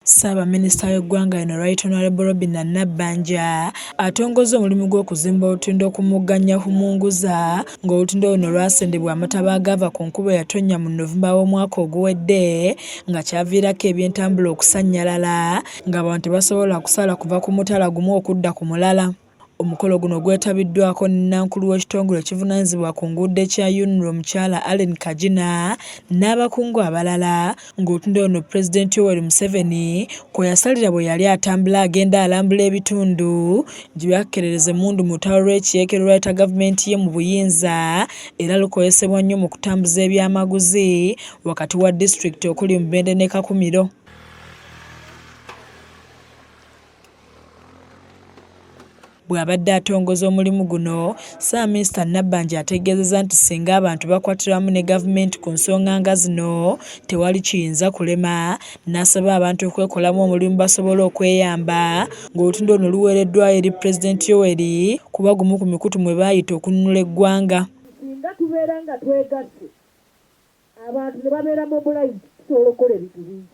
Ssaabaminisita w'eggwanga lino Right Honorable Robinah Nabbanja atongozza omulimu gw'okuzimba olutindo ku mugga Nyahumunguza ng'olutindo luno lwasendebwa amataba agaava ku nkuba eyatonnya mu November w'omwaka oguwedde nga kyaviirako ebyentambula okusannyalala ng'abantu tebasobola kusala kuva ku mutala gumu okudda ku mulala. Omukolo guno gwetabiddwako Nnankulu w'ekitongole ekivunaanyizibwa ku nguudo ekya UNRA omukyala Allen Kagina n'abakungu abalala ng'otunda ono Pulezidenti Yoweri Museveni kwe yasalira bwe yali atambula agenda alambula ebitundu gye byakkerereza emmundu mu lutalo lw'ekiyeekera olwaleeta gavumenti ye mu buyinza era lukozesebwa nnyo mu kutambuza ebyamaguzi wakati wa disitulikiti okuli Mubende ne Kakumiro. Bw'abadde atongoza omulimu guno, Ssaabaminisita Nabbanja ategeezezza nti singa abantu bakwatira wamu ne gavumenti ku nsonga nga zino tewali kiyinza kulema n'asaba abantu okwekolamu omulimu basobole okweyamba ng'olutindo luno luweereddwayo eri Pulezidenti Yoweri kuba gumu ku mikutu mwe baayita okununula eggwanga. Singa tubeera nga twegasse abantu ne babeera mobilized tusobola okukola ebintu bingi.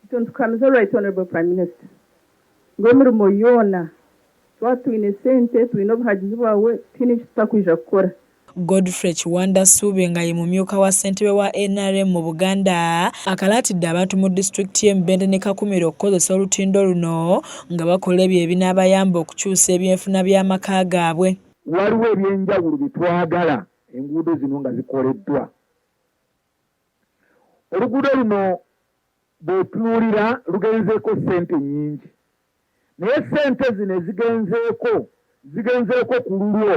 Kituntukamiza Right Honourable Prime Minister ngu emirimo yoona twaba twine sente, twine obuhagizi bwawe tihaine eki tutakwija kukora. Godfrey Kiwanda Ssuubi nga ye mumyuka wa ssentebe wa nrm mu Buganda akalaatidde abantu mu disitulikiti ye Mubende ne Kakumiro okukozesa olutindo luno nga bakola ebyo ebinaabayamba okukyusa ebyenfuna by'amaka gaabwe. Waliwo ebyenjawulo bye twagala enguudo zino nga zikoleddwa oluguudo luno bw'otunuulira lugenzeeko ssente nnyingi naye ssente zino ezigenzeeko zigenzeeko ku lulwo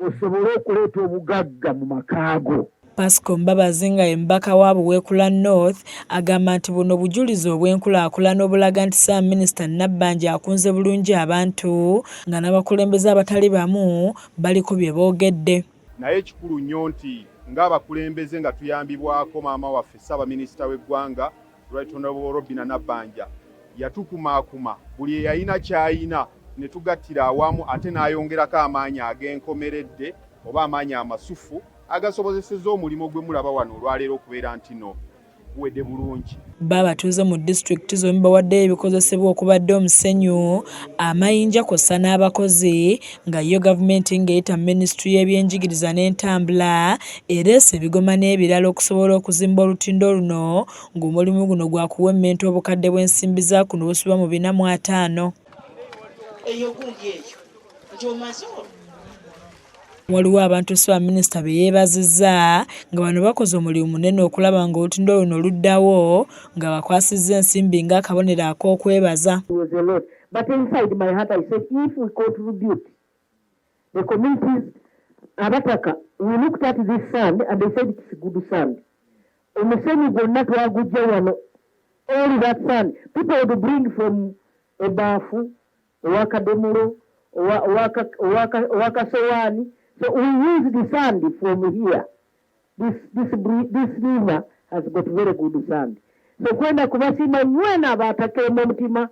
osobole okuleeta obugagga mu maka go. Pasco Mbabazi nga ye mubaka wa Buweekula North agamba nti buno bujulizi obw'enkulaakulana obulaga nti Ssaabaminisita Nabbanja akunze bulungi abantu nga n'abakulembeze abatali bamu baliko bye boogedde. naye kikulu nnyo nti ng'abakulembeze nga tuyambibwako maama waffe ssaabaminisita w'eggwanga Right Honorable Robina Nabbanja yatukumaakuma buli eyalina ky'alina ne tugattira awamu ate n'ayongerako amaanyi ag'enkomeredde oba amaanyi amasufu agasobozesezza omulimo gwe mulaba wano olwaleero okubeera ntino. buwedde bulungi. Bbo abatuuze mu disitulikiti zombi bawaddeyo ebikozesebwa okubadde omusenyu, amayinja kwossa n'abakozi nga yyo gavumenti ng'eyita mu minisitule y'ebyenjigiriza n'entambula ereese ebigoma n'ebirala okusobola okuzimba olutindo luno ng'omulimu guno gwakuwemmenta obukadde bw'ensimbi za kuno obusubwa mu bina mu ataano. eyo gundi eyo nti omaze waliwo abantu ssaabaminisita be yeebazizza nga bano bakoze omulimu munene okulaba nga olutindo luno luddawo nga bakwasizza ensimbi ng'akabonero ak'okwebaza abataka we looked at this sand and they said it's good sand Omusenyu gwonna twagujja wano all that sand people would bring from ebaafu owakadomulo owakasowaani so we use the sand from here this, this, this river has got very good sand so kwenda kubasiima nywena abatakeemu omutima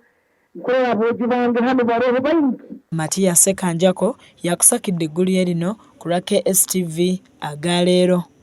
nkolera bwogi bange hano baroho baingi matiya sekanjako yakusakidde eggulu lye lino ku lwa kstv aga leero